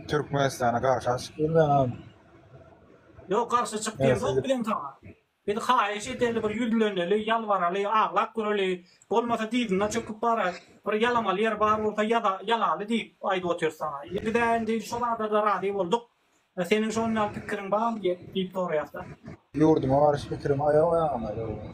Türkmenistana garşy açyp bilmen a. Ýok garşy çyk diýemzok biziň saňa. Biz haýyş edeli bir ýüzleneli ýalbaraly aglap göreli bolmasa dyzyna çöküp bara bir ýalamaly ýer bar bolsa ýaza ýalaly diýip aýdyp otyrys saňa. Indi bizä indi şo zadada razy bolduk. Seniň şon ýaly pikiriň barmy diýip soraýasda. Ýurduma garşy pikirim aýaw aýagyna döwülen.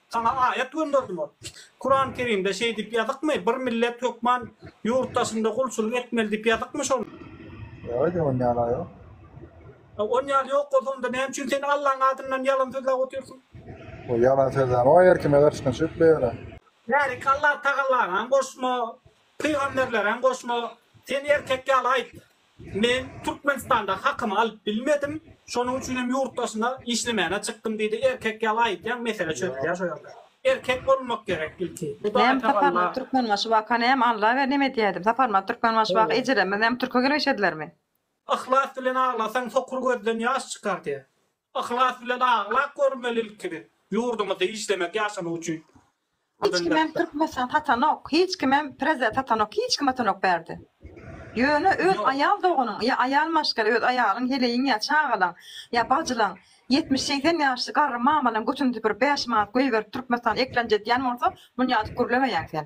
Saňa aýat gönderdiler. Kurany Kerimde şeý diýip ýazykmy, bir millet hökman ýurt daşynda gulçulyk etmeli diýip ýazykmy şony? Ýok edi, on ýaly ýok. On ýaly ýok bolsa onda näme üçin sen Allaň adyndan ýalan sözläp otyrsyň? Ol ýalan sözläme o her kime garşydan çykyp bileýärä. Bärik Allatagallagam goşma, pygamberleräm goşma, sen erkek ýaly aýt, Men Türkmenistanda hakymy alyp bilmedim, şonuň üçin hem ýurt daşyna işlemäne çykdym diýdi. Erkek ýaly aýtýaň, mesele çözülýär şo ýerde. Erkek bolmak gerek ilki. Hudaý tagalla. Türkmenbaşy waka näme Alla ber neme edýäýdim. Saparmyrat Türkmenbaşy waka ejelerimiz näme türke gelip işedilermi. Yhlas bilen aglasaň sokur gözden ýaş çykar diýýär. Yhlas bilen aglap görmeli ilkide. Ýurdumyzda işlemek ýaşamak üçin. Hiç kimem türkmenistan satanok hiç kimem prezident satanok hiç kim atanok bärde ýöne öz aýal doganyň ýa aýal maşgala öz aýalyň heleýiň ýa çagalaň ýa bajylaň ýetmiş segsen ýaşly garry mamalaň götüne süpürip bäş manat göýberip türkmenistan eklenje diýen bolsa munýadyk gürlemeýäň sen.